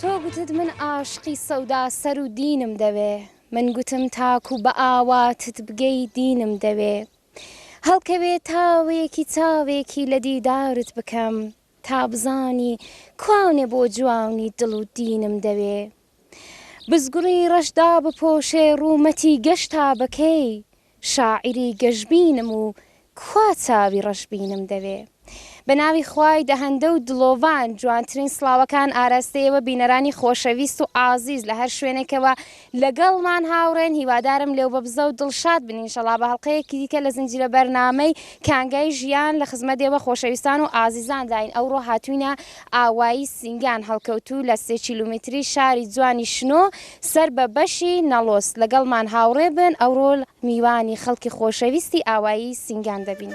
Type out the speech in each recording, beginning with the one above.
تۆ گوتت من ئاشقی سەودا سەر و دینم دەوێ من گوتم تاکو بە ئاواتت بگەی دینم دەوێ هەڵکەوێ تاوێکی چاوێکی لە دیدارت بکەم تا بزانی کوانێ بۆ جوانی دڵ و دینم دەوێ بزگڕی ڕەش دابپۆشێ ڕوومەتی گەش تا بەکەی شاعیری گەشبینم و کوا چاوی ڕەشبینم دەوێ. بە ناوی خوای دەهەندە و دڵۆڤان جوانترین سڵاوەکان ئاراستەی ئێوە بینەرانی خۆشەویست و ئازیز لە هەر شوێنێکەوە لەگەڵمان هاوڕێن هیوادارم لێوبەبزە و دڵشاد بن ئینشەڵا بە هەڵقەیەکی دیکە لە زنجیرە بەرنامەی کانگای ژیان لە خزمەت ئێوە خۆشەویستان و ئازیزانداین ئەوڕۆ هاتووینە ئاوایی سینگان هەڵکەوتوو لە سێ کیلومتری شاری جوانی شنۆ سەر بە بەشی نەڵۆس لەگەڵمان هاوڕێ بن ئەوڕۆ میوانی خەڵکی خۆشەویستی ئاوایی سینگان دەبین.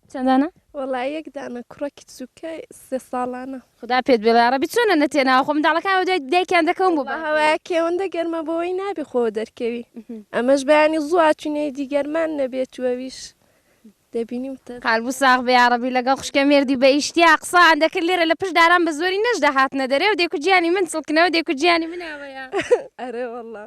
چەند دانە؟ وەڵا یەک دانە کوڕە کچوکە سێ ساڵانە. خودا پێت بێڵێ یاڕەبی چۆنە نەتێ ناوە خۆ منداڵەکان بە دوای دایکیان دەکەون بۆ بە هەوایە کێوەندە گەرمە بۆی نابێ خۆ دەرکەوی ئەمەش بەیانی زوو ئاچوینەی دی گەرمان نەبێت و ئەویش دەبینی وتە. قەلبو ساغ بێ یاڕەبی لەگەڵ خوشکە مێردی بە ئیشتیا قسان دەکرد لێرە لە پشت داران بە زۆری نەش دەهاتنە دەرێ و دەیکوت جیانی من چڵکنەوە دەیکوت جیانی من ئاوەیە. ئەرێ وەڵا.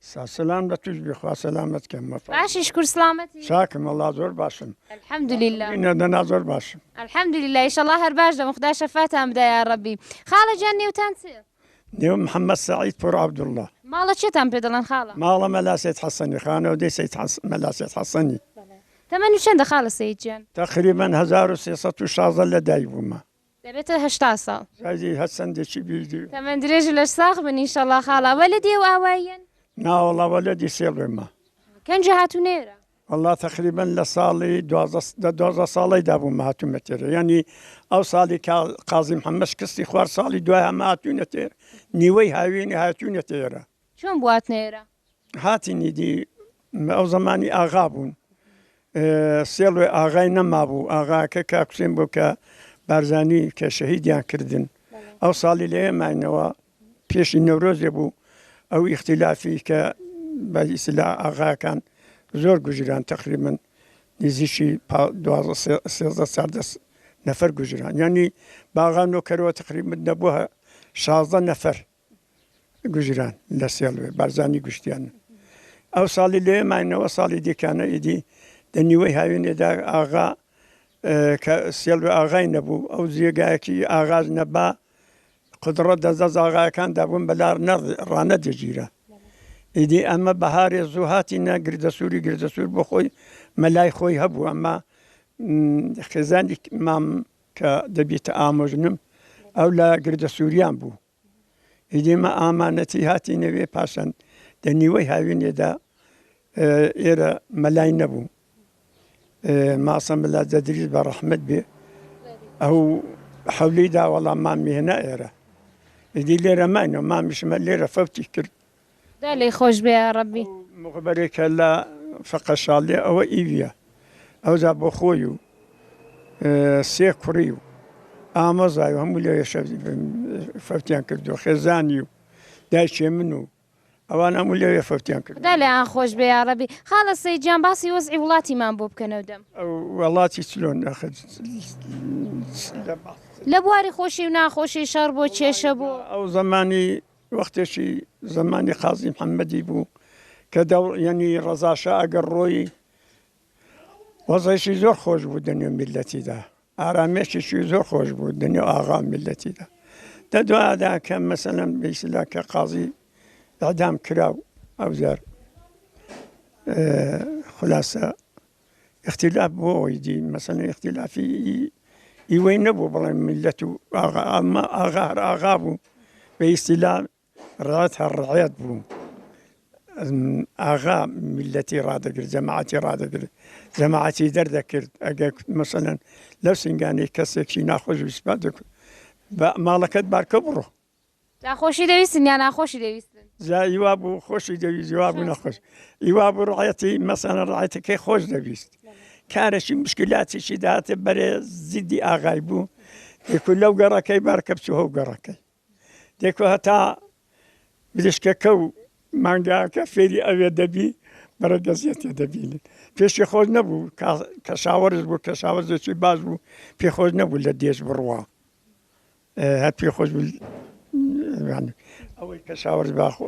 سا سلام لە توش بی خوا سەلامەت کە مە. باشی شکور سڵامەتی. چاکم وەڵا زۆر باشم. الحمد للە. نە دەنا زۆر باشم. الحمد للە ئیشەڵا هەر باش دەبن خودا شەفاتان بدا یاڕەبی. خاڵە جان نێوتان چ. نێوم محمد سعید پور عبداللە. ماڵە چێتان پێ دەڵێن خاڵە. ماڵە مەلا سید حەسەنی خانەوەدەی سید حەس مەلا سید حەسەنی. تەمەن و چەندە خاڵە سەید جان. تەقریبەن هەزار و سێ سەد و شازدە لە دایک بومە. دەبێتە هەشتا ساڵ. ڕێزی هەست چەندێکی بیدی. تەمەن درێژ و لەش ساغ بن انشاللە خاڵە وەلەدی ئەو ئاواییەن؟ نا وەڵا وەلەدی سێ ڵێمە. کەنجە هاتونە ئێرە؟ وەڵا تەقریبەن لە ساڵی دوازدە دە دوازدە ساڵەیدا بوومە هاتوومە تێرە یەنی ئەو ساڵی کا قازی محەممەد شکستی خوارد ساڵی دوای هەمە هاتووینە تێر نیوەی هاوینی هاتووینە تێرە. چۆن بواتنە ئێرە؟ هاتی نیدی ئەو زەمانی ئاغا بوون سێڵێ ئاغای نەمابوو ئاغاکە کاکوسێن بۆ کە بارزانی کە شەهیدیان کردن ئەو ساڵی لێ ماینەوە پێشی نەورۆزێ بوو ئەو ئیختیلافی کە بە ئیسلا ئاغاکان زۆر گوژران تقریبن نزیکی سێزدە ساردە نەفەر گوژران ینی باغان و کەرەوە تقریبت دەبووە شازدە نەفەر گوجران لە سێڵوێ بارزانی گشتیانە ئەو ساڵی لێ ماینەوە ساڵی دیکانە ئیدی لە نیوەی هاوێنێدا ئاغا کە سێڵوێ ئاغای نەبوو ئەو جێگایەکی ئاغاز نەبا قدڕە دەزە زاغایەکان دابوون بەلار ڕانە دەگیرە ئیدی ئەمە بەهارێ زوو هاتی نە گردە سووری گردە سوور بۆ خۆی مەلای خۆی هەبوو ئەمە خێزانی مام کە دەبیتە ئامۆژنم ئەو لە گردە سووریان بوو ئیدی مە ئامانەتی هاتینە وێ پاشان دە نیوەی هاوینێدا ئێرە مەلای نەبوو ماسە مەلا دەدریز بە ڕەحمت بێ ئەو حەولی داوەڵام مامیێنە ئێرە ئیدی لێرە ماینەوە مامیشمە لێرە فەوتی کرد دا لێی خۆش بێ یاڕەبی. ئەو مخبەرەی کە لە فەقە شاڵیە ئەوە ئیویە ئەوجا بۆ خۆی و سێ کوڕی و ئامۆزای و هەموو لەوێ فەوتیان کردووە خێزانی و دایکێ من و ئەوان هەموو لەوێ فەوتیان کردووە. خودا لێیان خۆش بێ یاڕەبی. خاڵە سەید جان باسی وەزعی وڵاتیمان بۆ بکەنەو دەم. ئەو وەڵاتی چلۆن ئەخە لە بواری خۆشی و ناخۆشی شەڕ بۆ کێشە بۆ. ئەو زەمانی وەختێکی زەمانی قازی محەممەدی بوو کە دەوڵیەنی ڕەزاشا ئەگەر ڕۆی وەزەیشی زۆر خۆش بوو دەنێ میلەتیدا ئارامێکێکی زۆر خۆش بوو دەنێ ئاغا میلەتیدا دە دوادا کە مەسەلم بیسلا کە قازی دادام کرا و ئەوجار خلاصە ئختیلاف بۆ ئەوەی دی مەسەن ئختیلافی ئیوەی نەبوو بڵێ میلەت و ئاغا ئەمە ئاغا هەر ئاغا بوو بە ئیسیلا ڕات هەر ڕعەت بوو ئاغا میلەتی ڕدەگرت جەماعەتی ڕدەگرت جەماعەتی دەردەکرد ئەگەر مەسەن لەو سنگانی کەسێکی ناخۆش وسپات دەکرد بە ماڵەکەت بارکە بڕۆ جا خۆشی دەویستن یا ناخۆشی دەویستن؟ جا ئی وا بوو خۆشی دەویست ئی وا بوو نەخۆش ئی وا بوو ڕەعیەتی مەسەلەن ڕەعیەتەکەی خۆش دەویست کارێکی مشکلاتێکی داهاتێ بەرێ زیدی ئاغای بوو دێکو لەو گەڕەکەی بار کە بچوو هەو گەڕەکەی دێکو هەتا مریشکەکە و مانگاکە فێری ئەوێ دەبی بەرەگەزیەتێ دەبینن پێشی خۆش نەبوو کەشاوەرش بوو کەشاوەرزێکی باش بوو پێ خۆش نەبوو لە دێش بڕوا هەر پێ خۆش ئەوەی کە شاوەرز باخۆ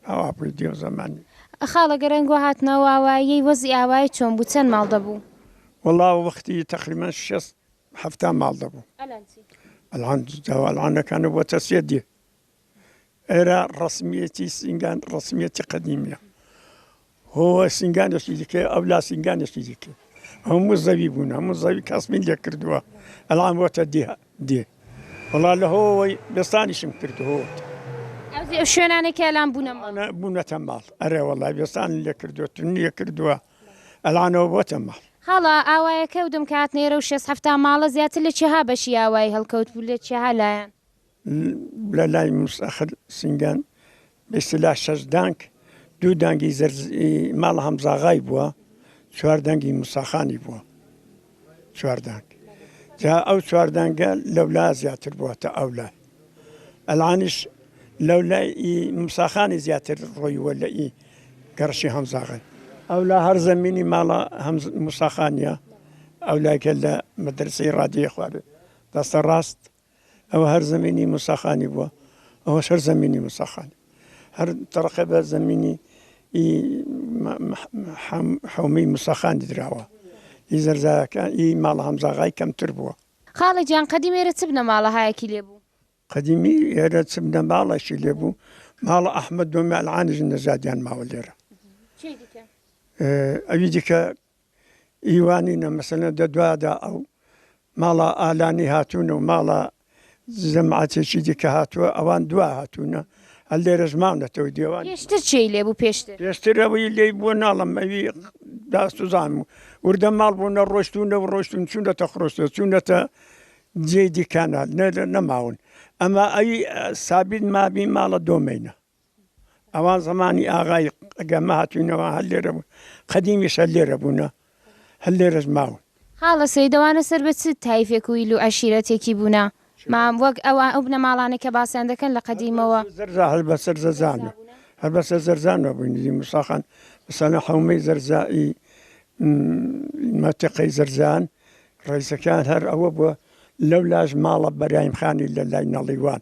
ئاوا پێ دێو زەمانی خاڵە گەرەنگۆ هاتنەوە ئاواییەی وەزی ئاوایی چۆن بوو چەند ماڵ دەبوو وەڵا وەختی تقریمە شست هەفتا ماڵ دەبوو ئەلان جاوەڵانەکانە بۆ تەسیە دێ ئێرە ڕەسمیەتی سینگان ڕەسمیەتی قەدیمیە هۆ سینگانێکی دیکە ئەو لا سینگانێکی دیکە هەموو زەوی بوون هەموو زەوی کەسمی لێ کردووە ئەلام وەتە دێ دێ وڵا لە هۆەوەی بێستانیشم کردهوت ئەو شوێنانێکی ئەلام بوونەمە بوونەتە ماڵ ئەرێ وڵای بێستان لێ کردووە تون لێ کردووە ئەلانەوە بۆتە ماڵ هەڵا ئاوایەکە و دەمکات نێرە و شێست هەفتا ماڵە زیاتر لە چێها بەشی ئاوایی هەڵکەوت بوو لە چێها لایەن لە لای موستەخر سینگان بە ئیستیلاح شەش دانگ، دوو دانگی زەرز ی ماڵە هەمزاغای بووە، چوار دانگی موساخانی بووە. چوار دانگ. جا ئەو چوار دانگە لەولا زیاتر بووە تا ئەو لای. ئەلانیش لەولای ئی موساخانی زیاتر ڕۆیوە لە ئی گەڕشی هەمزاغای. ئەولا هەر زەمینی ماڵە هەمز موساخانیە، ئەولایکە لە مەدرەسەی ڕادیێ خوارێ دەستە ڕاست ئەوە هەر زەمینی موسا خانی بووە ئەوەش هەر زەمینی موسا خانی هەر تەڕقە بە زەمینی حومی مسەخان دراوە ئی زەرزاکە ئی ماڵ هەمزاغای کەمتر بووە خاڵە جان قەدیم ئێرە چ بنە ماڵەهایەکی لێ بوو قەدیمی ئێرە چ بنە ماڵەشی لێ بوو ماڵە ئەحمد دۆمیالعانیش نەزادیان ماوە لێرە ئەوی دیکە ی وانینە مەسەلەن دە دوادا ئەو ماڵا ئالانی هاتوون و ماڵا زەماتێکی دیکە هاتووە ئەوان دوا هاتوونە هەر لێرەش ماونەتەوە دێوان پێشتر چێی لێبوو پێشتر؟ پێشتر ئەوەی لێی بووە ناڵم ئەوی داستوزان و وردە ماڵ بوو نە ڕۆشتونە و ڕۆشتون چونەتە خرۆشتە چونەتە جێ دیکانال نەماون ئەما ئەوی سابین مابی ماڵە دۆمەینە. ئەوا زەمانی ئاغای گەمە هاتووینەوە هەر لێرە بوون قەدیمیش هەر لێرە بوونە هەر لێرەش ماون. خاڵە سەیدەوانە سەر بە چ تایفێک و ئیل و عەشیرەتێکی بوونە مام وەک ئەو ئەو بنەماڵانەی کە باسیان دەکەن لە قەدیمەوە؟ زەرزا هەر بە سەر زەزانە هەر بە سەر زەرزانەوە بووی نزیک موسا خان مەسەلەن حەومەی زەرزا ی مەتیقەی زەرزان ڕەیسەکەیان هەر ئەوە بووە لەو لاش ماڵە بەرایم خانی لە لای نەڵیوان.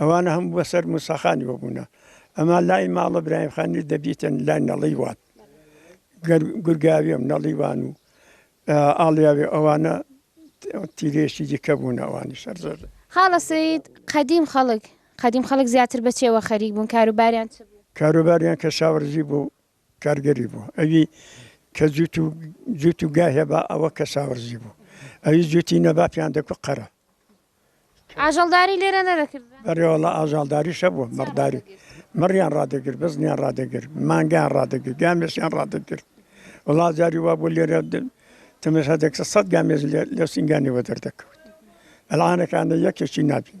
ئەوانە هەموو بەسەر موساخانی وەبوونە ئەما لای ماڵە برایم خانی دەبیتن لای نەڵی وات گورگاویم نەڵیوان و ئاڵیاوێ ئەوانە تیرێکی دیکە بوون ئەوانی سەر زۆر خاڵە سید قەدیم خەڵک قەدیم خەڵک زیاتر بە چێوە خەریک بوون کاروباریان چ بوو کاروباریان کە شاوەرزی بوو کارگەری بوو ئەوی کە جوت و جوت و گای هەبا ئەوە کەشاوەرزی بوو ئەوی جوتی نەبا پێیان دەکوت قەرە. ئاژەڵداری لێرە نەدەکرد. بەرێ وەڵا ئاژاڵداریش هەبوو مەڕداری مەڕیان ڕادەگر بزنیان ڕادەگر مانگیان ڕادەگر گامێشیان ڕادەگر وڵا جاری وا بۆ لێرە تەمەشا دەکرد سەد گامێش لە سینگانەوە دەردەکەوت ئەلعانەکانە یەکێکی نابین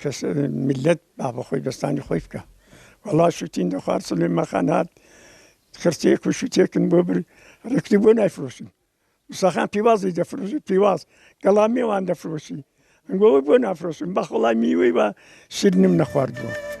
کەس میللەت با بە خۆی دەستانی خۆی بکا وەڵا شوتین دەخوارد سلێمان خان هات خرتێک و شوتێکن بۆ بر ڕێکتی بۆ نایفرۆشن مساخان پیوازی دەفرۆشی پیواز گەڵا مێوان دەفرۆشی ئەنگۆوە بۆ نافرۆشن بەخوڵای میوەی بە شیرنم نەخواردووە.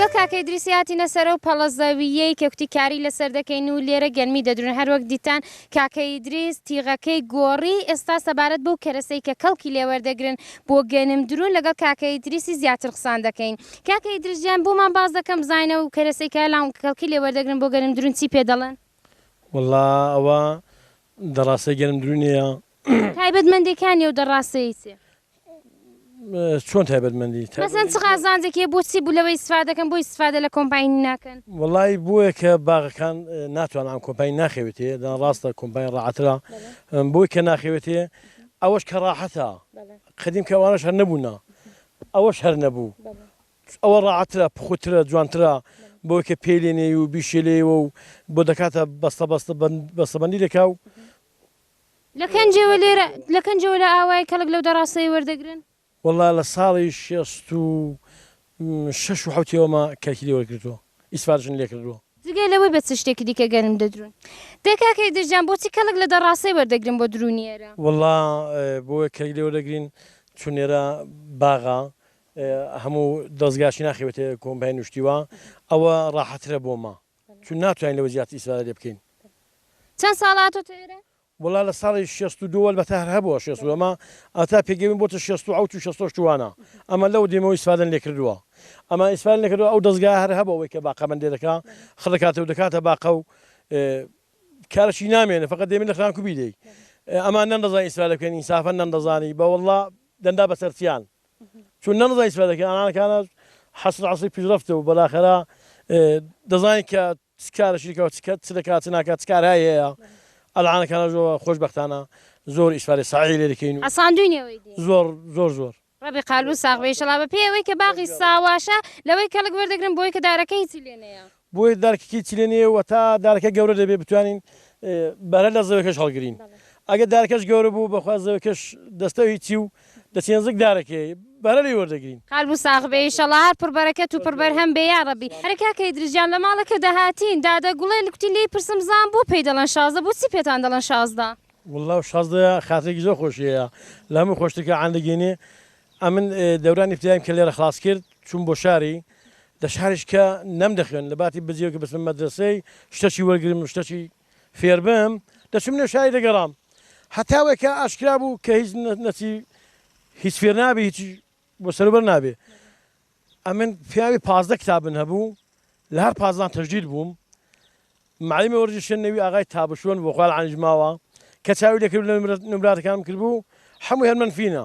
لۆ کاکە ئیدریسی هاتینە سەرەو پەڵە زەوییەی کە کوتی کاری لەسەر دەکەین و لێرە گەرمی دەدرون هەر وەک دیتان کاکە ئیدریس تیغەکەی گۆڕی ئێستا سەبارەت بەو کەرەسەی کە کەڵکی لێ وەردەگرن بۆ گەنم درون لەگەڵ کاکە ئیدریسی زیاتر قسان دەکەین کاکە ئیدریس گیان بۆمان باس دەکەن بزانین ئەو کەرەسەی کە لام کەڵکی لێ وەردەگرن بۆ گەنم درون چی پێ دەڵێن؟ وەڵا ئەوە دەڕاسەی گەرم دروی نێە. تایبەت مەندێ کانیە و دە ڕاسەیی چیە؟ چۆن تایبەت مەندی؟ مەسەن چ قازانجێکی هەیە بۆ چی بو لەوەی ئیستفادە دەکەن بۆ ئیستفادە لە کۆمپاینی ناکەن؟ وەڵای بۆیە کە باغەکان ناتوانن ئەم کۆمپاین ناخەوێتێ دەنا ڕاستە کۆمپاین ڕاعەترە بۆی کە ناخەوێتێ ئەوەش کە ڕاحەتە قەدیم کە ئەوانەش هەر نەبوونا ئەوەش هەر نەبوو ئەوە ڕاعەترە پوخترە جوانترە بۆی کە پێی لێ نێی و بیشێ لێیەوە و بۆ دەکاتە بەستە بەستە بەستەبەندی دەکا و. لە کەنجەوە لێرە لە کەنجەوە لە ئاوایە کەڵک لەو دە ڕاستەیە وەردەگرن؟ وەڵا لە ساڵی شێست و شەش و حەوتیەوەمە کەلکی لێ وەرگرتووە ئیسفادەشم لێ کردووە. جگە لەوەی بە چ شتێکی دیکە گەنم دەدروون؟ دەی کاکە ئیدریس جان بۆچی کەڵک لە دە ڕاستەی وەردەگرن بۆ دروونی ئێرە؟ وەڵا بۆیە کەلک لێ وەردەگرین چون ئێرە باغە هەموو دەزگاش ناخەوێتە کۆمپای نوشتیوا ئەوە ڕاحەترە بۆ ما چون ناتوانین لەوە زیاتر ئیسفادە لێ بکەین. چەند ساڵە تۆ تێرە؟ وەڵا لە ساڵی شێست و دوو ئەلبەتە هەر هەبووە شێست و دوو ئەما ئەتا پێگەیمن بۆتە شێست و حەوت و شێست و هەشت وانە ئەما لەوە دێمەوە ئیسفادەن لێ کردووە ئەما ئیسفادەن لێ کردووە ئەو دەزگایە هەر هەبووە ئەوەی کە باقە بەندێ دەکا خڕ دەکاتە و دەکاتە باقە و کارەشی نامێنێ فەقەت دێمە لە خرانکوبی دێی ئەما نەندەزانی ئیسفادە بکەن ئینسافەن نەندەزانی بە وەڵا دەندا بەسەرچیان چون نەمزانی چ فایدەکە ئانان کانت حسرە عصری پیشرفت و بەلاخەرە دەزانین کە چ کارەشی کەوە چ کەت چ دەکات چ ناکات چ کارهایی هەیە ئەلعانە کانە زۆ خۆش بەختانە زۆر ئیسفادەی سەعی لێ دەکەین و حەساندووین ئێوەی دێ. زۆر زۆر زۆر. ڕەبی قالبت ساغ بێ ئیشەڵا بەپێی ئەوەی کە باغی ساواشە لەوەی کەڵک وەردەگرم بۆی کە دارەکە هیچی لێ نەیە. بۆیە دارکەکە هیچی لێ نیە و تا دارەکە گەورە دەبێت بتوانین بەرە لە زەوەکەش هەڵگرین ئەگە دارکەش گەورە بوو بەخوا زەوەکەش دەستە هیچی و دەچی نزیک دارەکەی بەرە لێ وەردەگرین. قالبو ساغ بێ ئیشەڵا هەر پر بەرەکەت و پر بەرهەم بێ یاڕەبی. ئەرێ کاکە ئیدریس گیان لە ماڵەکە دەهاتین دادە گوڵێ لکوتی لێی پرسم زان بۆ پێی دەڵێن شازدە بۆچی پێتان دەڵێن شازدە. وەڵڵا شازدە خاترێکی زۆر خۆشی هەیە لە هەمووی خۆشتر کە عەندەگێنێ ئەمن دەوران ئیبتدایم کە لێرە خڵاس کرد چووم بۆ شاری لە شاریش کە نەم دەخوێن لە باتی بجێ کە بچم مەدرسەی شتەچی وەرگرم شتەچی فێربم دەچم نێو شاری دەگەڕام هەتاوێک کە ئاشکرا بوو کە هیچ نەچی هیچ فێر نابێ هیچ بۆ سەروبەر نابێ ئەمن پیاوی پازدە کتابن هەبوو لە هەر پازدان تەجدید بووم معلمی وەرجی شوێن نەوی ئاغای تابشوون بۆ خوال عانیژماوە کە چاوی لەکرد لە نمراتەکانم کردبوو هەموو هەرمەن فینە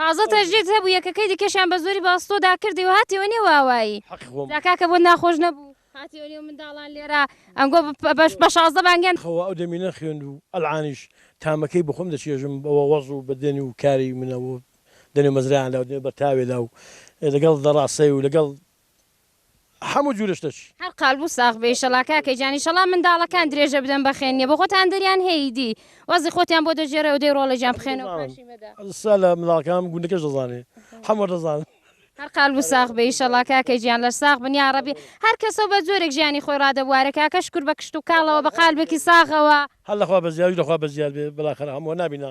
تازە تەژدید هەبوو یەکەکەی دیکەشیان بە زۆری باستۆ دا کردی و هاتیەوە نێو ئاوایی جا کاکە بۆت ناخۆش نەبوو هاتیەوە نێو منداڵان لێرە ئەنگۆ بە شازدە بانگیان خوا ئەو دەمی نەخوێند و ئەلعانیش تامەکەی بۆ خۆم دەچێژم بەوە وەز و بە دەنگ و کاری منەوە دەنێ مەزرایان دا و دەنێ بە تاوێ دا و لەگەڵ دەڕاسێ و لەگەڵ حەموو جورە شتەچی. هەر قالبو ساغ بێ ئیشەڵا کاکە گیان ئیشەڵا منداڵەکان درێژە بدەن بە خوێندنێ بۆ خۆتان دەریان هەیە ئیدی وەزی خۆتیان بۆ دەگێڕێ و دەی ڕۆڵێکیان بخوێنەوە پاشی مەدە. سا لە منداڵەکان گوندەکەش دەزانێ حەموو دەزانن. هەر قالبو ساغ بێ ئیشەڵا کاکە گیان لەش ساغ بن یاڕەبی هەر کەسەو بە جۆرێک ژیانی خۆی ڕادەبوارێ کاکە شکور بە کشت و کاڵەوە بە قالبێکی ساغەوە. هەر لە خوا بەزیاریش لە خوا بەزیار بێ بلاخەرە حەمووە نابینا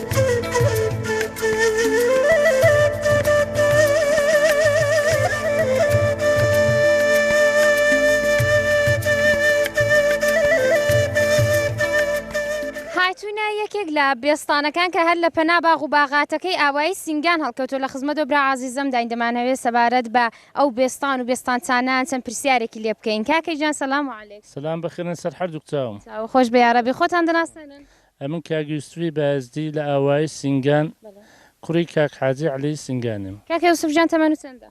هاتووینە یەکێک لە بێستانەکان کە هەر لە پەنا باغ و باغاتەکەی ئاوایی سنگان هەڵکەوتو لە خزمەت و برا عزیزم داین دەمانەوێت سەبارەت بە ئەو بێستان و بێستانچانان چەند پرسیارێکی لێ بکەین کاکەی جان سلام علیک سلام بخیرن سەر هەردووک چاوم چاو خۆش بێ یارەبی خۆتان دەناسێنن ئەمن کاک یوسفی بایزدی لە ئاوایی سینگان کوڕی کاک حاجی عەلی سینگانیم. کاکە یوسف جان تەمەن چەندە؟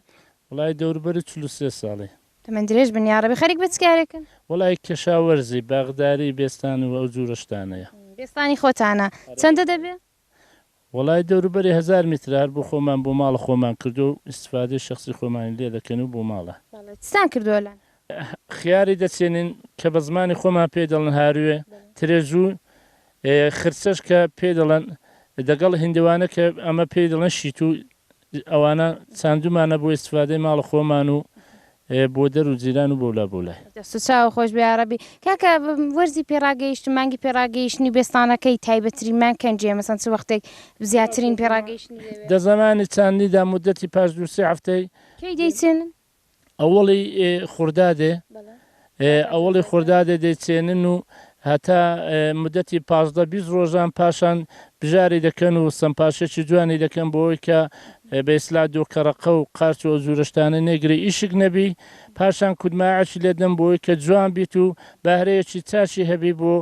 وەڵایی دەوروبەری چل و سێ ساڵی. تەمەن درێژ بن یاڕەبی خەریک بە چ کارێکن؟ وەڵایی کەشاوەرزی باغداری بێستان و ئەو جورە شتانەیە. بێستانی خۆتانە؟ چەندە دەبێ؟ وەڵای دەوروبەری هەزار میترە هەر بۆ خۆمان بۆ ماڵە خۆمان کردوە و ئیستفادەی شەخسی خۆمانی لێ دەکەین و بۆ ماڵە. بەڵێ چتان کردوە لەن. خیاری دەچێنین کە بە زمانی خۆمان پێی دەڵن هاروێ، ترێزو، ە، خرچەش کە پێی دەڵن، دەگەڵ هیندوانە کە ئەمە پێی دڵن شیتو، ە، ئەوانە چاندومانە بۆ ئیستفادەی ماڵە خۆمان و ئێ بۆ دەر و جیران و بەولا بەولای. دەست و چاوو خۆش بێ یاڕەبی. کاکە وەرزی پێڕاگەیشتن مانگی پێڕاگەیشتنی بێستانە کەی تایبەت ترین مانگ کەنجیە مەسەن چ وەختێک زیاترین پێڕاگەیشتنی دەبێت؟ دە زەمانی چاندنیدا مودەتی پاش دوو سێ هەفتەی. کەی دەیچێنن؟ ئەوەڵی خوردادێ ئێ ئەوەڵی خوردادێ دەیچێنن و هەتا مودەتی پازدە بیست ڕۆژان پاشان بژاری دەکەن و سەمپاشێکی جوانی دەکەن بۆوەی کە بە ئیسلا دۆکەڕەقە و قارچ و ئەو جورە شتانە نێگرێ ئیشک نەبی پاشان کودماعەکی لێدەن بۆوەی کە جوان بیت و بەهرەیەکی چاکی هەبی بۆ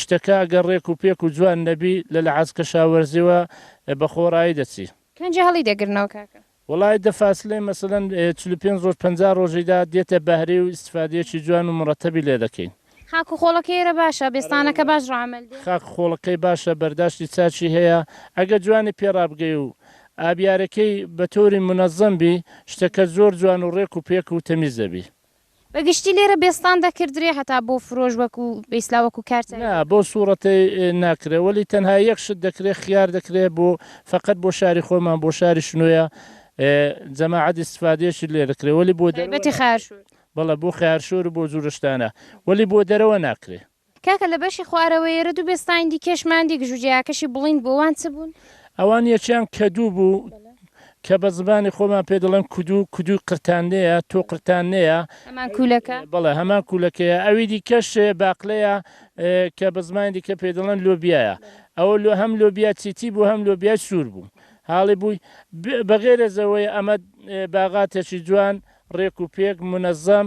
شتەکا گەر ڕێک و پێک و جوان نەبی لە لە عەز کەشاوەرزیەوە بە خۆڕایی دەچی. کەنجی هەڵی دەگرنەوە کاکە. وەڵایی دە فاسلەی مەسەلەن چل و پێنج ڕۆژ پەنجا ڕۆژی دا دێتە بەهرەی و ئیستفادەیەکی جوان و مڕەتەبی لێ دەکەین. خاک و خۆڵەکەی ئێرە باشە؟ بێستانەکە باش ڕامەل دێ؟ خاک و خۆڵەکەی باشە بەرداشتی چاکی هەیە ئەگەر جوانی پێ ڕابگەی و ئابیارەکەی بە تۆری منەزەم بی شتەکە زۆر جوان و ڕێک و پێک و تەمیز دەبی. بە گشتی لێرە بێستان دەکردرێ هەتا بۆ فرۆش وەکو بە ئیسلا وەکو کار تایبەت. نا بۆ سوڕەتەی ناکرێ وەلی تەنها یەک شت دەکرێ خیار دەکرێ بۆ فەقەت بۆ شاری خۆمان بۆ شاری شنۆیە جەماعەت ئیستفادەیەکی لێ دەکرێ وەلی بۆ دەرەوە تایبەتی ناکرێ خەیارشور. بەڵێ بۆ خەیارشور و بۆ جورە شتانە وەلی بۆ دەرەوە ناکرێ. کاکە لە بەشی خوارەوەی ئێرە دوو بێستانی دیکەش ماندی گژوگیاکەشی بڵیند بوو ئەوان چ بوون؟ ئەوان یەکیان کەدوو بوو کە بە زمانی خۆمان پێ دەڵێن کدوو، کدووی قرتاننەیە، تۆ قرتاننەیە. هەمان کوولەکە؟ بەڵێ هەمان کوولەکەیە. ئەوی دیکەش باقلەیە کە بە زمانی دیکە پێی دەڵێن لۆبیایە. ئەوە لۆ هەم لۆبیای چیتی بوو هەم لۆبیای سوور بوو. هاڵی بووی. بە غەیرەزەوەی ئەمە باغاتێکی جوان، ڕێک و پێک، مونەزەم،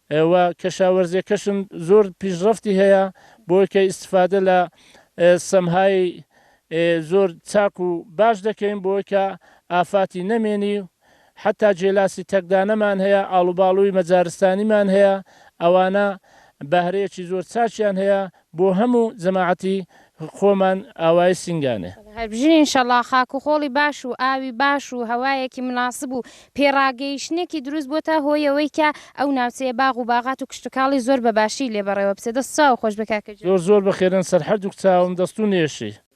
وە کەشاوەرزیەکەشن زۆر پیشڕەفتی هەیە بۆی کە ئیستفادە لە سەمهای زۆر چاک و باش دەکەین بۆی کە ئافاتی نەمێنی حەتا جێلاسی تەکدانەمان هەیە ئاڵوباڵوی مەجارستانیمان هەیە ئەوانە بەهرەیەکی زۆر چاکیان هەیە بۆ هەمو جەماعەتی خۆمان ئاوای سینگانێ. هەربژین انشاللە خاک و خۆڵی باش و ئاوی باش و هەوایەکی مناسب و پێڕاگەیشتنێکی دروست بۆتە هۆی ئەوەی کە ئەو ناوچەیە باغ و باغات و کشتوکاڵی زۆر بە باشی لێ بەڕێوە بچێت دەست چاو خۆش بە کاکە گیان. زۆر زۆر بەخێرن سەر هەردووک چاوم دەستو نێشی.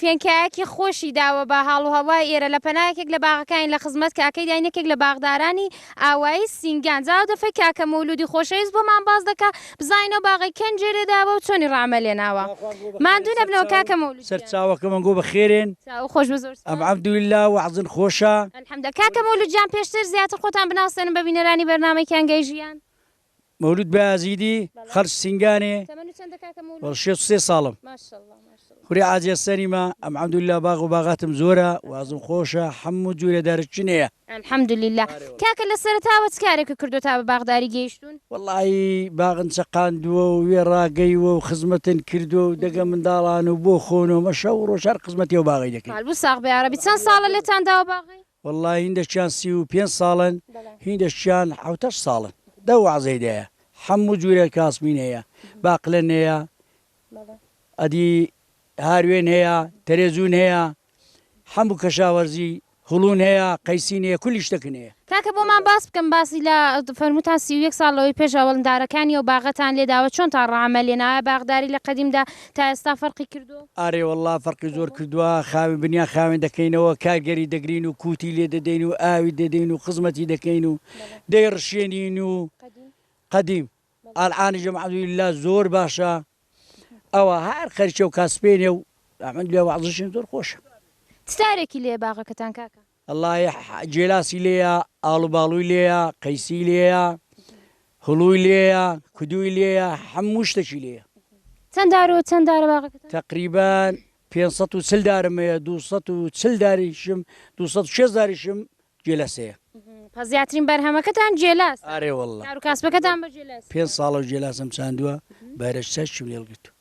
فێنکایەکی خۆشی داوە بە هاڵ و هەوای ئێرە لە پەنا یەکێک لە باغەکانی لە خزمەت کاکەی داین یەکێک لە باغدارانی ئاوایی سینگان جا ئەو دەفەی کاکە مەولوودی خۆشەویست بۆمان باس دەکا بزانین ئەو باغەی کێن گوێ لێ داوە و چۆنی ڕامە لێ ناوە ماندوو نەبنەوە کاکە مەولوود گیان. سەر چاوەکەم ئەنگۆ بە خێرێن. چاوو خۆش بێ زۆر سوپاس. ئەمعەبدولیلا وەعزن خۆشە. الحمدە کاکە مەولود جان پێشتر زیاتر خۆتان بناسێنن بە بینەرانی بەرنامەی کیانگەی ژیان. مەولود بایەزیدی خەرج سینگانێ تەمەن چەندە کاکە مولود؟ وەڵ شێت سێ ساڵم ماشەڵڵا ماشەڵڵا خوری عاجێ سەریمە ئەم عەمدوللا باغ و باغاتم زۆرە وازم خۆشە حەموو جورێ دارچچنێە. الحمدللە کاکە لە سەرەتاوە چ کارێکە کردووە تا بە باغداری گەیشتوون؟ وەڵاهی باغن چەقاندووە و وێ ڕاگەیوە و خزمەتن کردووە و دەگە منداڵان و بۆ خۆنۆمە شەو و ڕۆژ هەر خزمەتێ و باغەی دەکەین. مالبوو ساغ بە یارەبی چەند ساڵە لێتان داوە باغەی؟ وەڵڵا هیندەکیان سی و پێنج ساڵن هیندەکیان حەوت هەشت ساڵن دە وەعزەی دەیە حەموو جورێ کاسمین هەیە باقلەن هەیە ئەدی هاروێن هەیە تەرێزوون هەیە حەموو کەشاوەرزی هوڵون هەیە قەیسین هەیە کولی شتەکن هەیە. کاکە بۆمان باس بکەن باسی لە فەرمووتان سی و یەک ساڵ لەوەی پێش ئەوەڵندارەکانی ئەو باغەتان لێداوە چۆنتان ڕەعەمە لێناوە ئایا باغداری لە قەدیمدا تا ئێستا فەرقی کردو؟ ئارێ وەڵا فەرقی زۆر کردوە خاوێن بنیان خاوێن دەکەینەوە کارگەری دەگرین و کوتی لێ دەدەین و ئاوی دەدەین و خزمەتی دەکەین و دەی ڕشێنین و قەدیم ئالعانی ژەم عەبدوللا زۆر باشە ئەوە هەر خەرچەو کاسپێنێ و ئەمن لێ وازشین زۆر خۆشە. چ تارێکی لێیە باغەکەتان کاکە؟ اللە یە جێلاسی لێیە ئاڵو باڵوی لێیە قەیسی لێیە هڵوی لێیە کدوی لێیە حەموو شتەکی لێیە. چەند دار و چەند دارە باغەکەتان؟ تەقریبەن پێنج سەد و چل دارم هەیە دوو سەد و چل داریشم دوو سەد و شێست داریشم جێلاس هەیە. پس زیاترین بەرهەمەکەتان جێلاسە؟ ئارێ واللە. کار و کاسبەکەتان بە جێلاسی؟ پێنج ساڵە جێلاسم چاندووە بەرەچەشم لێڵ گرتووە.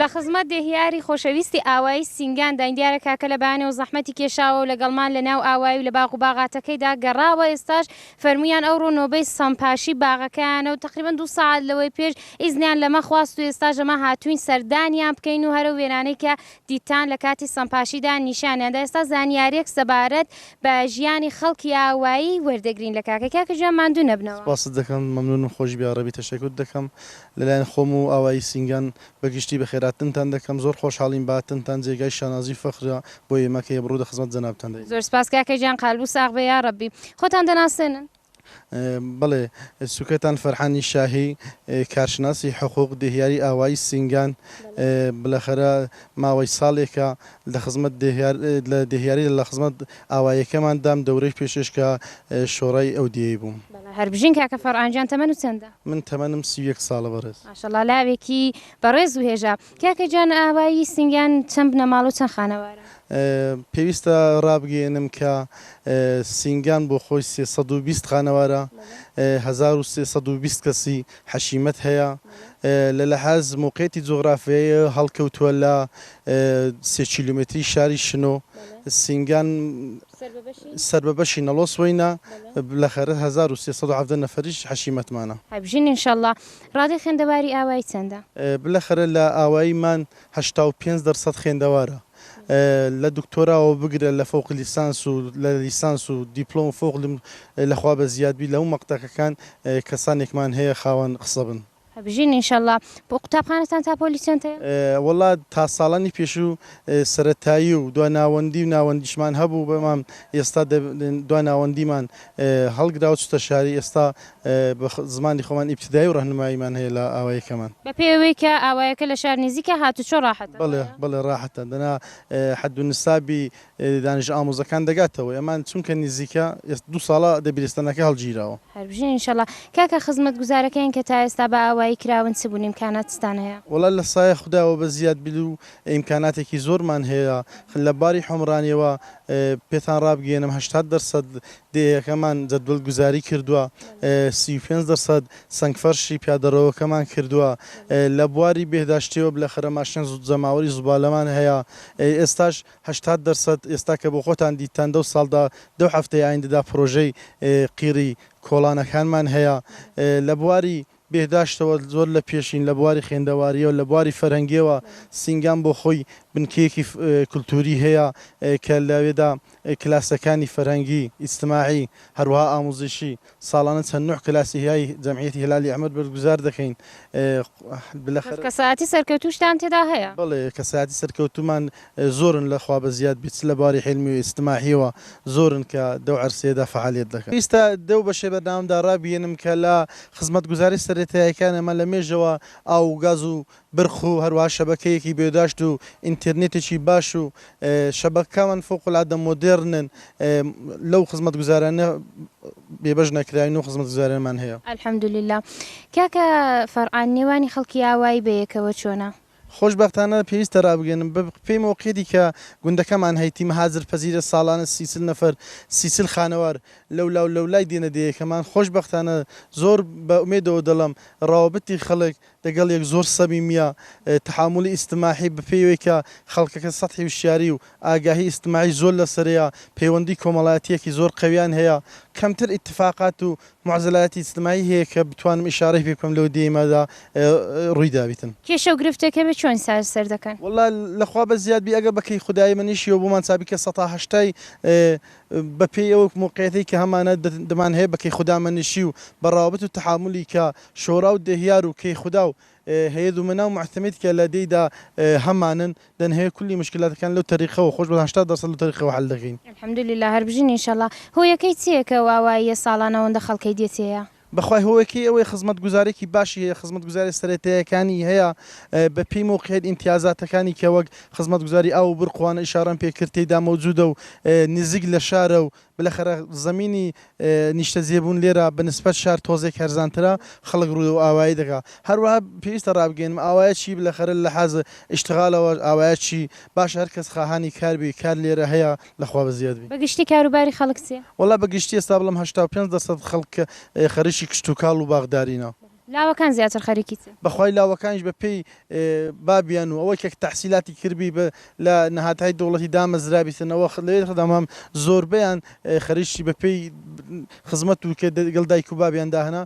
لە خزمەت دێهیاری خۆشەویستی ئاوایی سینگان داین دیارە کاکە لە بەیانەوە زەحمەتی کێشاوەو لەگەڵمان لە ناو ئاوایی و لە باغ و باغاتەکەیدا گەڕاوە ئێستاش فەرموویان ئەوڕۆ نۆبەی سەمپاشی باغەکەیانە و تەقریبەن دوو سەعات لەوەی پێش ئیزنیان لەمە خواست و ئێستاش ئەمە هاتووین سەردانیان بکەین و هەرەو وێنانەی کە دیتان لە کاتی سەمپاشیدا نیشانیان دا ئێستا زانیاریەک سەبارەت بە ژیانی خەڵکی ئاوایی وەردەگرین لە کاکە کاکە گیان ماندوو نەبنەوە. سپاست دەکەم مەمنونم خۆشبی یاڕەبی تەشەکورت دەکەم لەلایەن خۆم و ئاوایی سینگان بەگشتی بەخێراتنتان دەکەم زۆر خۆشحاڵین بەهاتنتان جێگای شانازی و فەخرە بۆ ئێمە کە یەبڕو دەخزمەت جەنابتان دەین. زۆر سپاس کاکە گیان قالبو ساغ بێ یاڕەبی. خۆتان دەناسێنن؟ بەڵێ سوکەتان فەرحانی شاهی کارشناسی حقوق دهیاری ئاوایی سینگان بلەخەرە ماوەی ساڵێکە لە خزمەت دهیار لە دهیاری لە خزمەت ئاوایەکەمان دام دەورەی پێشێش کە شۆڕای ئەو دیەی بووم. هەر بژین کاکە فەڕان گیان تەمەن و چەندە؟ من تەمەنم سی و یەک ساڵە بەڕێز. ماشاءاللە لاوێکی بەڕێز و هێژا. کاکە گیان ئاوایی سنگیان چەند بنەماڵە و چەند خانەوارە؟ پێویستە ڕابگەیەنم کە سینگان بۆ خۆی سێ سەد و بیست خانەوارە، هەزار و سێ سەد و بیست کەسی حەشیمەت هەیە، لە لەحاز مەوقیعەتی جوغرافیایی هەڵکەوتووە لە سێ کیلۆمێتری شاری شنۆ، سینگان سەر بە بەشی نەڵۆ سوەینە، بلەخەرە هەزار و سێ سەد و حەڤدە نەفەریش حەشیمەتمانە. هەربژین ان شاء اللە. ڕادەی خوێندەواری ئاوایی چەندە؟ بلەخەرە لە ئاوایی مان هەشتا و پێنج دەرسەد خوێندەوارە لە دکتۆراوە بگرە لە فەوق لیسانس و لە لیسانس و دیپلۆم و فوق لم لەخوا بە زیاد بی لەو مەقتەکەکان کەسانێکمان هەیە خاوەن قسە بن. هەربژین ان شاء اللە. قوتابخانەتان تا پۆلی چەند هەیە؟ وەڵا تا ساڵانی پێشوو سەرەتایی و دوا ناوەندی و ناوەندیشمان هەبوو بەمام ئێستا دوا ناوەندیمان هەڵگراوە چوتە شاری ئێستا بە زمانی خۆمان ئیبتیدایی و ڕەهنماییمان هەیە لە ئاوایەکەمان. بە پێی ئەوەی کە ئاوایەکە لە شار نیزیکە هاتوچۆ ڕاحەتە؟ بەڵێ بەڵێ ڕاحەتە دەنا حەد و نیسابی دانیشە ئامۆزەکان دەگاتەوە ئێمان چونکە نیزیکە ئێس دوو ساڵە دەبیرستانەکە هەڵگیراوە. هەر بژین ان شاءاللە. کاکە خزمەتگوزارەکەیان کە تا ئێستا بە ئاوایی کراون چ بوون ئیمکاناتستان هەیە؟ وەڵا لە سایە خوداوە بە زیاد بیل و ئیمکاناتێکی زۆرمان هەیە لە باری حۆمرانیەوە پێتان ڕابگەیەنم هەشتاد دەرسەد دێهەکەمان جەدوەل گوزاری کردووە، سی و پێنج دەرسەد سەنگفەرشی پیادەڕەوەکەمان کردووە، لە بواری بێهداشتیەوە بلەخەرەماشیان جەماوەری زوبالەمان هەیە، ئێستاش هەشتاد دەرسەد ئێستا کە بۆخۆتان دیتتان دەو ساڵدا دەو هەفتەی ئایندەدا پرۆژەی قیڕی کۆڵانەکانمان هەیە، لە بواری بێهداشتەوە زۆر لە پێشین لە بواری خوێندەوارییەوە، لە بواری فەرهەنگییەوە سینگام بۆ خۆی بنکەیەکی کولتووری هەیە کە لەوێدا کلاسەکانی فەرهەنگی، ئیجتماعی، هەروەها ئامووزشی ساڵانە چەند نۆع کلاسی هیای جەمعیەتی هلالی ئەحمەر بەرگوزار دەکەین. پس کەسایەتی سەرکەوتووشتان تێدا هەیە؟ بەڵێ کەسایەتی سەرکەوتوومان زۆرن لە خوا بەزیاد بێت چ لە باری حیلمی و ئیجتماحیەوە زۆرن کە دەو عەرسەیەدا فەعالیەت دەکەن. ئیستا دەو بەشەی بەرنامەم دا رابیەنم کە لە خزمەتگوزاری سەرەتایەکانە مە لە مێژەوە ئاو و گاز و برق و هەروەها شەبەکەیەکی بێداشت و ئینتێرنێتێکی باش و شەبەککامان فوق العادە مۆدێرنن لەو خزمەتگوزارانە بێبەش نەکراوین و خزمەتگوزارێنمان هەیە. الحمدللە. کاکە فەرعان نێوانی خەڵکی ئاوایی بەیەکەوە چۆنە؟ خۆشبەختانە پێویستە رابگەینم بە پێی مۆقیەتی کە گوندەکەمان هەیتی مەهاجر پەزیرە ساڵانە سی چل نەفەر سی چل خانەوار لەولا و لەولای دێنە دێیەکەمان خۆشبەختانە زۆر بە ئومێدەوە دەڵێم راوەبتی خەڵک دەگەڵ یەک زۆر سەمیمیە تەحامولی ئیجتماحی بە پێی ئەوەی کە خەڵکەکە سەتحی وشیاری و ئاگاهی ئیجتماعی زۆر لەسەرەیە پەیوەندی کۆمەڵایەتیەکی زۆر قەویان هەیە کەمتر ئیتفاقات و معزەلایەتی ئیجتماعی هەیە کە بتوانم ئیشارەی پێ بکەم لەو دێیمەدا ڕووی دابیتن. کێشە و گرفتەکە بە چۆن چارەسەر دەکەن؟ وەللە لە خوا بە زیاد بی ئەگەر بە کەی خودایی منیش یەو بۆمان چابی کە سەتا هەشتای بە پێی ئەو موقعیەتەی کە هەمانە دمان هەیە بە کەی خودا مەنیشی و بە ڕاوبت و تەحامولی کە شۆراو دێهیار و کەی خودا و هەیە دومەنا و موعتەمید کە لە دێیدا هەمانن دەن هەیە کولی مشکلاتەکان لەو تەریقەوە خۆش بەڵام هەشتا دەرسەد لەو تەریقەوە حەل دەکەین. الحمدللە هەر بژین ان شاءاللە. هۆیەکەی چیە کە ئەو ئاواییە ساڵان ئەوەندە خەڵکەی دێتێە؟ بەخوای هۆیەکەی ئەوەیە خزمەت گوزارێکی باشی هەیە خزمەت گوزارێ سەرەتایەکانی هەیە بە پێی مەوقعیەت ئینتیازاتەکانی کە وەک خزمەت گوزاری ئاو و برق و وانە ئیشارەم پێ کرد تێیدا مەوجودە و نزیک لە شارە و بلەخەرە زەمینی نیشتەجێبوون لێرە بە نسبەت شار تۆزێک هەرزانترە، خەڵک روو ئاوایی دەکا. هەروەها پێویستە رابگەینم ئاوایە چی بلەخەرە لە حاز ئیشتغالەوە ئاوایە چی؟ باشە هەر کەس خاهانی کار بی کار لێرە هەیە لە خوا بەزیاد بی. بە گشتی کاروباری خەڵک چیە؟ وەڵا بە گشتی ئێستا بڵێم هەشتا و پێنج دەرسەد خەڵک خەریکی کشتوکاڵ و باخدارینە. لاوەکان زیاتر خەریکی چن؟ بەخوای لاوەکانیش بە پێی بابیان و ئەوەی کە تەحسیلاتی کردبی بە لە نەهاتهای دەوڵەتی دامەزرابیتن ئەوە لەوێ دەمام زۆربەیان خەریکی بە پێی خزمەت و کە دەگەڵ دایک و بابیان داهنا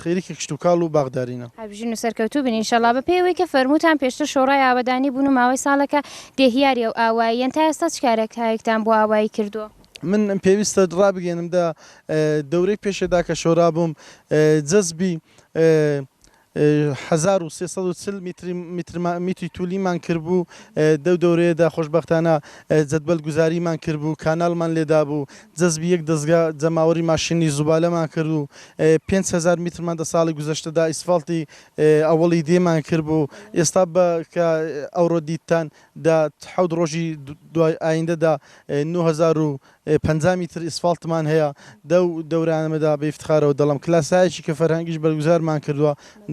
خەریکی کشت و کاڵ و باخدارینە. هەربژین و سەرکەوتوو بن ئینشەڵا. بە پێی ئەوەی کە فەرمووتان پێشتر شۆڕای ئاوەدانی بوون و ماوەی ساڵێکە دێهیاری ئەو ئاواییەن تا ئێستا چ کارێک هایەکتان بۆ ئاوایی کردووە؟ من پێویستە ڕابگەێنم دە دەورەی پێشێدا کە شۆرابووم جەزبی هزار و سێ سەد و چل میتری میتر ما- میتری تولیمان کردبوو دەو دەورەیەدا خۆشببختانە جەدبەل گوزاریمان کردبوو کانالمان لێدابوو جەزبی یەک دەزگا جەماوەری ماشینی زوبالەمان کرد و پێنج هەزار میترمان دە ساڵی گوزەشتەدا ئیسفاڵتی ئەوەڵی دێمان کردبوو ئێستا بە کە ئەوڕۆ دیتتان دە حەوت ڕۆژی دوای ئایندە دە نۆ هەزار و پەنجا میتر ئیسفاڵتمان هەیە. دەو دەورانەمەدا بە ئیفتخارەوە دەڵێم کە لاسایەکی کە فەرهەنگیش بەرگوزارمان کردوە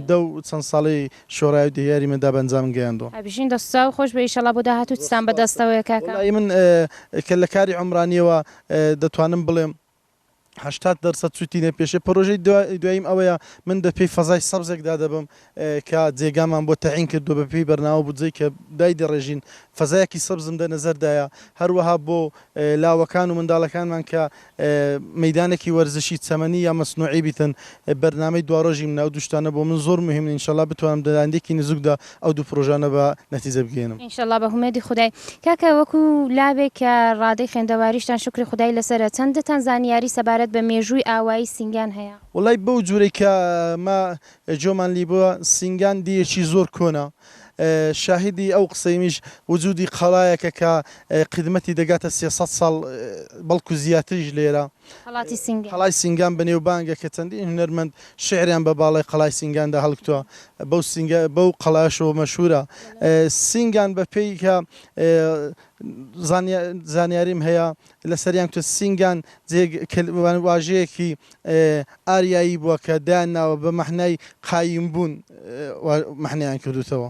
دەو چەند ساڵەی شۆرای و دهیاریمەدا بە ئەنجام گەیاندوە. بژین دەست چاو خۆش بێ ئیشەڵا بۆ داهاتوو چتان بەدەستەوەیە کاکە. وەڵایی من کە لە کاری عومرانیەوە دەتوانم بڵێم هەشتاد دەرسەد سوودی لێ پێشێ پرۆژەی دواییم ئەوەیە من بە پێی فەزای سەبزێکدا دەبم کە جێگامان بۆ تەعین کردو بە پێی بەرناوە بودجەی کە دای دەڕێژین فەزایەکی سەبزم دە نەزەردایە هەروەها بۆ لاوەکان و منداڵەکانمان کە مەدانێکی وەرزشی چەمەنی یا مەسنوعی بیتن بەرنامەی دوارۆژی مناو دوشتانە بۆ من زۆر مهمن انشاءاللە بتوانم دەلاندێکی نزوکدا ئەو دوو پرۆژانە بە نەتیجە بگەینم. انشاللە بە هومێدی خودای. کاکە وەکو لاوێک کە ڕادەی خوێندەواریشتان شوکری خودای لەسەرە چەندتان زانیاری سەبارەت بە مێژووی ئاوایی سینگان هەیە؟ وەڵای بەو جورەی کە ئمە جۆمان لی بوە سینگان دیەکی زۆر کۆنە شاهیدی ئەو قسەیمیش وجودی قەڵایەکە کە قیدمەتی دەگاتە سێ سەد ساڵ بەڵکو زیاتریش لێرە قەڵاتی سینگان. قەڵای سینگان بەنێوبانگە کە چەندین هونەرمەند شیعریان بە باڵای قەڵای سینگاندا هەڵکتووە، بەو سینگە بەو قەڵایەشەوە مەشهوورە. سینگان بە پێی کە زانیا زانیاریم هەیە لەسەریان کە سینگان جێگ کل واژەیەکی ئاریایی بووە کە دایان ناوە بە مەحنای قایمبوون وا مەحنەیان کردووتەوە.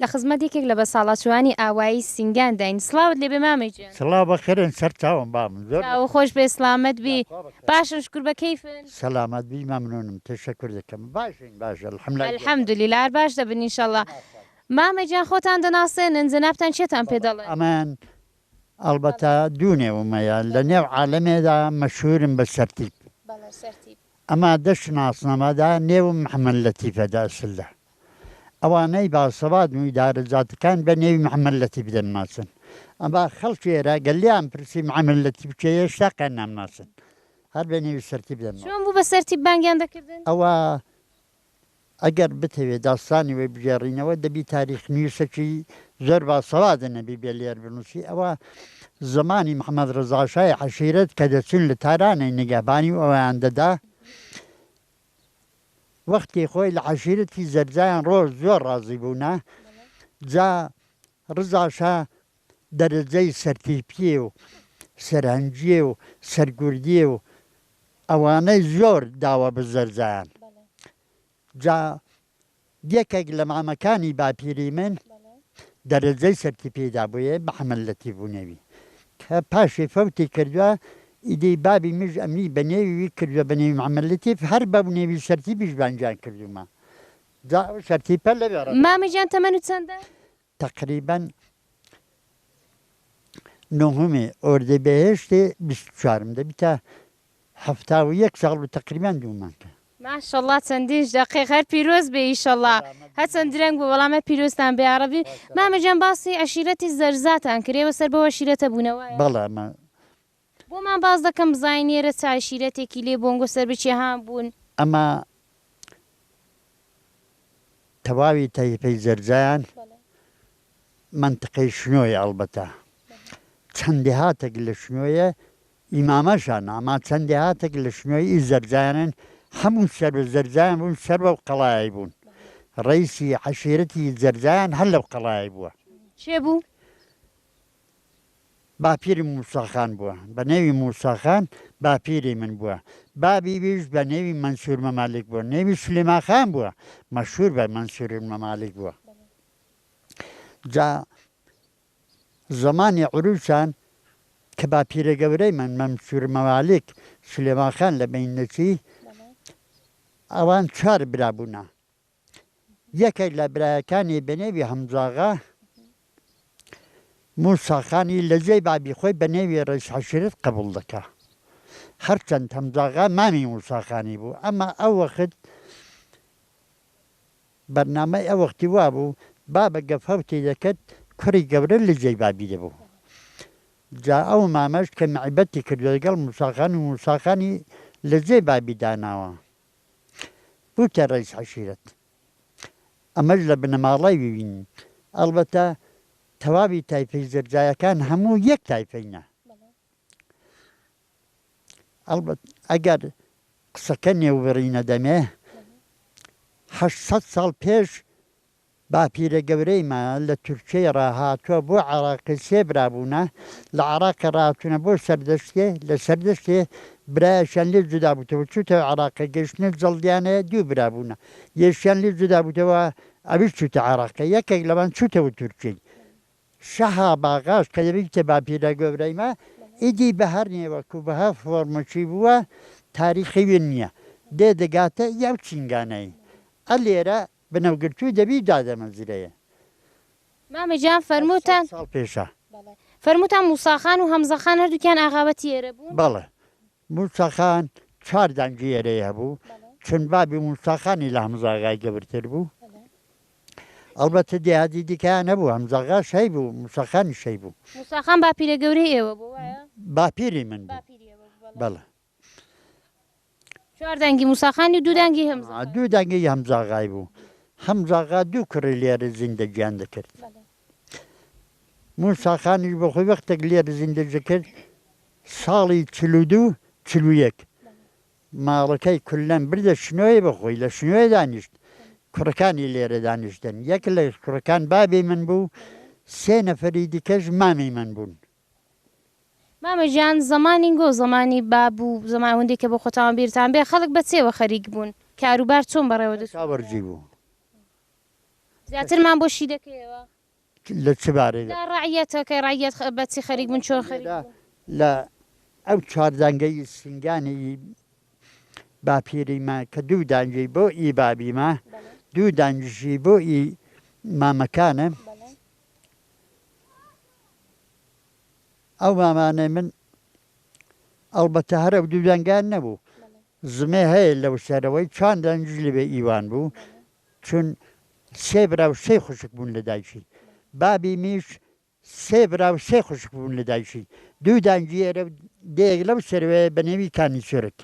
لە خزمەت یەکێک لە بەساڵاچووانی ئاوایی سینگان داین سڵاوت لێبێ مامە گیان سڵاو بە کەرێن سەر چاوم بامن زۆر چاوە خۆش بێ سڵامەت بی باشن شکر بە کەیفن سەلامەت بی مەمنونم تەشەکور دەکەم باشین باش الحمدللە الحمدللە هەر باش دەبن ان شاء اللە مامە گیان خۆتان دەناسێنن جەنابتان کێتان پێ دەڵێن ئەمن ئەڵبەتە دوو نێوم هەیە لە نێو عالەمێدا مەشهورم بە سەرتیپ بەڵێ سەرتیپ ئەما دەشت ناسنامەدا نێوم محمد لەتیفە دە ئەسللە ئەوانەی باسەوادن و ئیدارە جاتەکان بە نێوی محمد لەتیف دەنناسن ئەما خەڵکی ئێرە گەر لێیان پرسی محمد لەتیف کێیە هێشتاقیان نامناسن هەر بە نێوی سەرتیپ دەنناسن. چۆن بوو بە سەرتیپ بانگیان دەکردن؟ ئەوە ئەگەر بتەوێ داستانی وی بگێڕینەوە دەبی تاریخنویسەکی زۆر باسەوادە نەبی بێ لێر بنوسی ئەوە زمانی محمد رضا شای عەشیرەت کە دەچون لە تارانەی نگەهبانی ئەویان دەدا وەختی خۆی لە عەشیرەتی زەرزایان رۆژ زۆر رازی بونا جا رضا شا دەرەجەی سەرتیپی و سەرهەنگی و سەرگوردی و ئەوانەی زۆر داوە بزەرزان جا یەکێک لە مامەکانی باپیری من دەرەجەی سەرتیپی دابوویێ محەمەد لەتیف و نێوی کە پاشی فەوتی کردوە ئیدی بابی مژ ئەمنی بە نێوی وی کردوە بە نێوی محەمەد لەتیف هەر بەو نێوی سەرتیپیش بانگیان کردوومە جا ئەو سەرتیپە لەوێ ڕەوشت. مامە گیان تەمەنت چەندە؟ تەقریبەن نۆهەمی ئۆردیبێهێشتی بیست و چوارم دەبیتە حەفتا و یەک ساڵ و تەقریبەن دوو مانگە. ماشەڵا چەندینش دەقیق هەر پیرۆز بێ ئیشەڵا هەچەند درەنگ بوو بەڵام هەر پیرۆزتان بێ یاڕەبی مامە گیان باسی عەشیرەتی زەرزاتان کرد ئێوە سەر بەو عەشیرەتە بوونەوایە؟ بەڵێ مە. بۆمان باس دەکەن بزانین نێرە چ عەشیرەتێکی لێ بۆنگۆ سەربچێ هان بوون. ئەما تەواوی تایفەی جەرجان مەنتقەی شنۆیە ئەڵبەتە چەند دێهاتەک لە شنۆیە ئی مامەشان ئەما چەند دێهاتەک لە شنۆی ئی جەرجانن هەموو سەر بە جەرجان بوون سەر بەو قەڵایەی بوون ڕەیسی عەشیرەتی جەرجان هەر لەو قەڵایەی بووە. کێ بوو؟ باپیرم موسا خان بووە بە نێوی موسا خان باپیری من بووە بابی ویش بە نێوی مەنسور مەمالیک بووە نێوی سلیما خان بووە مەشهور بە مەنسور مەمالیک بووە جا زەمانی عروسان کە باپیرە گەورەی من مەمسور مەمالیک سلێما خان لە بینەچی ئەوان چوار برا بوونە یەکێک لە برایەکانی بەنێوی هەمزاغا موسا خانی لە جێی بابی خۆی بە نێوی ڕەیس عەشیرەت قەبوڵ دەکا. هەرچەند هەمزاغا مامی موسا خانی بوو، ئەما ئەو وەخت بەرنامەی ئەو وەختی وا بوو بابە گە فەوتی دەکرد کوڕی گەورە لە جێی بابی دەبوو. جا ئەو مامەش کە مەعیبەتی کردووە دەگەڵ موسا خان و موسا خانی لە جێی بابی داناوە. بوویتە ڕەیس عەشیرەت ئەمەش لە بنەماڵەی وین ئەڵبەتە تەواوی تایفەی زەرجایەکان هەموو یەک تایفەینە ئەڵبەت ئەگەر قسەکە نێوبڕینە دەمێ هەشت سەد ساڵ پێش باپیرە گەورەیمە لە تورکیەی ڕا هاتوە بۆ عێڕاق سێ برا بوونە لە عێڕاق کە ڕاهاتونە بۆ سەردەشتێ لە سەردەشتێ برایەکیان لێ جودا بوتەوە چوتە عێڕاق کە گەشتنە جەڵدیانە دوو برا بوونە یەکیان لێ جودا بوتەوە ئەویش چوتە عێڕاق کە یەکێک لەوان چوتەوە تورکیەی شەها باغاش کە یەوی کتێ باپیرە گەورەیمە ئیدی بە هەر نێوەک و بە هەر فۆرمەکی بووە تاریخی وێ نیە دێ دەگاتە یەو چینگانەی ئە لێرە بنەوگرتووی دەبی دادەمەزرێ. مامە گیان فەرمووتان بەڵێ فەرمووتان موسا خان و هەمزە خان هەردووکیان ئاغابەتی ئێرە بوون؟ بەڵێ موسا خان چوار دانگی ئێرەی هەبوو چون بابی موسا خانی لە هەمزە ئاغای گەورتر بوو ئەڵبەتە دێهاتی دیکەیان هەبوو هەمزە ئاغاش هەیبوو موسا خانیش هەیبوو. موسا خان باپیرە گەورەی ئێوە بوو وایە؟ باپیری من بوو بەڵێ. چوار دەنگی موسا خان و دوو دەنگی هەمزە ئا دوو دەنگی هەمزە ئاغای بوو. هەمزە ئاغا دوو کوڕی لێرە زیندەگیان دەکرد. موسا خانیش بۆ خۆی وەختێک لێرە زیندەی دەکرد ساڵی چل و دوو چل و یەک ماڵەکەی کوللەن بردە شنۆێ بۆ خۆی لە شنۆێ دانیشت. کوڕەکانی لێرە دانیشتن. یەک لە کوڕەکان بابی من بوو، سێ نەفەری دیکەش مامی من بوون. مامە گیان زەمانی گۆ زەمانی باب و زەمان ئەوەندەی کە بۆ خۆتان بیرتان بێ خەڵک بە چێوە خەریک بوون کارو بار چۆن بەڕێوە دەچوو؟ کاوە ڕجی بوو. زیاترمان بۆ شی دەکەیەوە؟ لە چ بارەی؟ لە ڕەعیەتە کە ڕەعیەت خە بە چی خەریک بوون چۆن خەریک بوون؟ لە ئەو چوار دەنگەی سنگانی ی باپیری مە کە دوو دانگی بۆ ی بابی مە دوو دانگیشی بۆ ی مامەکانە. ئەو مامانەی من ئەڵبەتە هەر ئەو دوو دەنگان نەبوو زمێ هەیە لەو سەرەوەی چوان دەنگیش لەوێ ئیوان بوو چون سێ برا و سێ خوشک بوون لە دایکی بابی میش سێ برا و سێ خوشک بوون لە دایکی دوو دانگی ئێرە و دێک لەو سەروەیە بە نێوی کانی چرک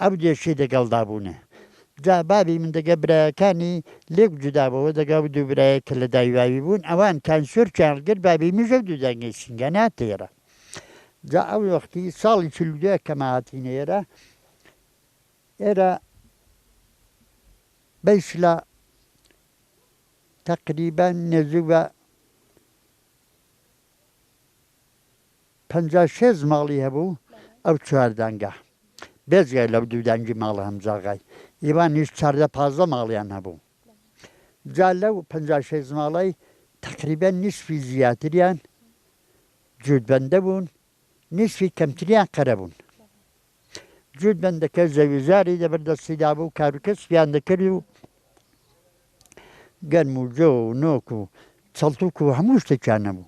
ئەو دێشی دەگەڵدا بوونە. جا بابی من دەگە برایەکانی لێک جودا بۆوە دەگا و دوو برایەک کە لە دای واوی بوون ئەوان کان سورچیان هەڵگرت بابی میژە و دوو دانگەی سینگیان هاتە ئێرە. جا ئەو وەختی ساڵی چل و دوو کە ما هاتینە ئێرە ئێرە بە ئیسلا تەقریبەن نێزوو بە پەنجا و شێست ماڵی هەبوو ئەو چوار دەنگە، بێجگە لەو دوو دەنگی ماڵە هەمجاغای ئیوانیش چاردە پازدە ماڵیان هەبوو. جا لەو پەنجا و شێست ماڵەی تەقریبەن نیسفی زیاتریان جووتبەندە بوون، نیسفی کەمتریان قەرە بوون. جووتبەندەکە زەوی زاری لەبەر دەستی دابوو، کاروکەسبیان دەکرد و گەنم و جۆ و نۆک و چەڵتووک و هەموو شتێکیان هەبوو.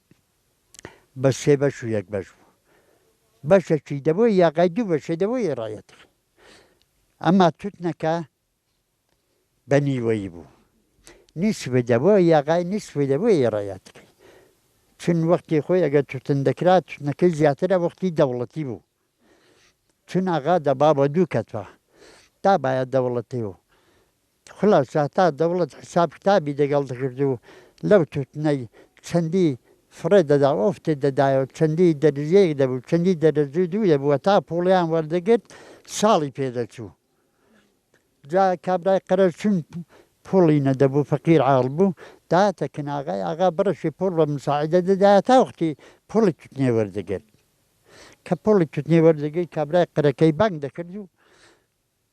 بە سێ بەش و یەک بەش بوو بەشەکی دەبۆی یاقای دوو بەشێ دەبۆی ڕایەتەخ ئەما توتنەکە بە نیوەی بوو نیسبە دەبۆ یاقای نیسبە دەبۆی ڕایەتەکەی چون وەختی خۆی ئەگە توتن دەکرا توتنەکەی زیاترە وەختی دەوڵەتی بوو چون ئاغا دەبا بە دوو کەتوە تا باە دەوڵەتی و خولاسە تا دەوڵەت حیساب کتابی دەگەڵ دەکرد و لەو توتنەی چەندی فڕێ دەدا و ئەوفتەی دەدایەوە چەندی دەرزیەیەک دەبوو چەندی دەرەزوو دوو دەبوو هەتا پووڵیان وەردەگرت ساڵی پێ دەچوو جا کابرای قەرەج چون پووڵی نەدەبوو فەقیر عاڵ بوو دایەتە کناغای ئاغا بڕەشی پووڵ بە مساعیدە دەدایە تا وەختی پووڵی توتنێ وەردەگرت کە پووڵی توتنێ وەردەگرت کابرای قەرەکەی بانگ دەکرد و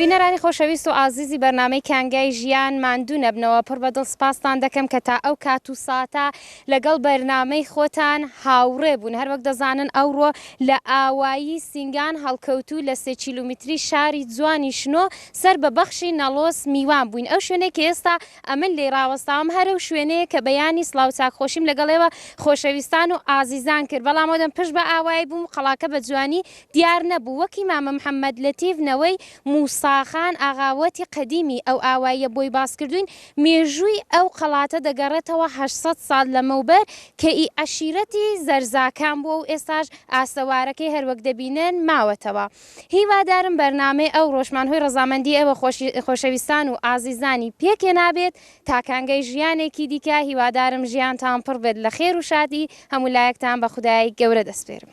بینەرانی خۆشەویست و ئازیزی بەرنامەی کانگای ژیان ماندوو نەبنەوە پڕ بە دڵ سپاستان دەکەم کە تا ئەو کات و ساتە لەگەڵ بەرنامەی خۆتان هاوڕێ بوون هەر وەک دەزانن ئەوڕۆ لە ئاوایی سینگان هەڵکەوتوو لە سێ کیلومیتری شاری جوانی شنۆ سەر بە بەخشی نەڵۆس میوان بووین ئەو شوێنەی کە ئێستا ئەمن لێی ڕاوەستاوم هەرەو شوێنەیە کە بەیانی سڵاو چاک خۆشیم لەگەڵ ئێوە خۆشەویستان و ئازیزان کرد بەڵام ئەودەم پشت بە ئاوایی بووم قەڵاکە بە جوانی دیار نەبوو وەکی مامە محمد لەتیف نەوەی موسا خان ئاغا وەتی قەدیمی ئەو ئاواییە بۆی باس کردووین مێژووی ئەو قەڵاتە دەگەڕێتەوە هەشت سەد ساڵ لەمەوبەر کە ئی عەشیرەتی زەرزاکان بووە و ئێستاش ئاسەوارەکەی هەروەک دەبینن ماوەتەوە. هیوادارم بەرنامەی ئەوڕۆشمان هۆی ڕەزامەندی ئێوە خۆشەویستان و ئازیزانی پێکێنابێت تا کانگای ژیانێکی دیکە هیوادارم ژیانتان پڕ بێت لە خێر و شادی هەموو لایەکتان بە خودای گەورە دەسپێرم.